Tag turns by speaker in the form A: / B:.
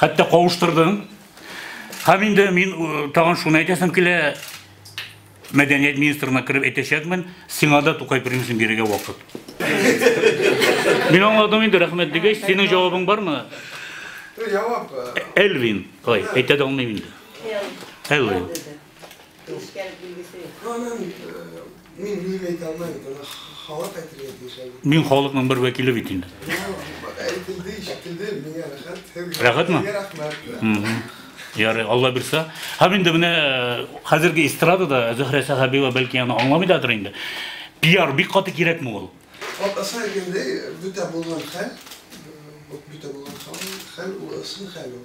A: Хәтта кавыштырдым. Һәм инде мин тагын шуны әйтәсем килә, мәдәният министрына кереп әйтәчәкмен, сиңа да Тукай премиясын бирергә вакыт. Мин аңладым инде, рәхмәт дигәч, синең җавабың бармы? Җавап.
B: Элвин,
A: ой, әйтә дә алмыйм инде. Элвин. Нечкәлек билгесе.
B: Анан мин үзем әйтә алмыйм, аны халык әйтергә тиеш әле. Мин халыкның бер
A: вәкиле бит инде. Әйтелде,
B: ишетелде, миңа рәхәт. Рәхәтме?
A: Рәхмәт.
B: Ярый,
A: Алла бирса. Һәм инде менә э, хәзерге эстрадада Зөһрә Сәхәбиева бәлки аны аңламыйдадыр инде. Пиар бик каты кирәкме ул? Атасы әйткәндәй,
B: бүтә булган хәл, бөтә булган хәл, хәл ул ысын хәл ул.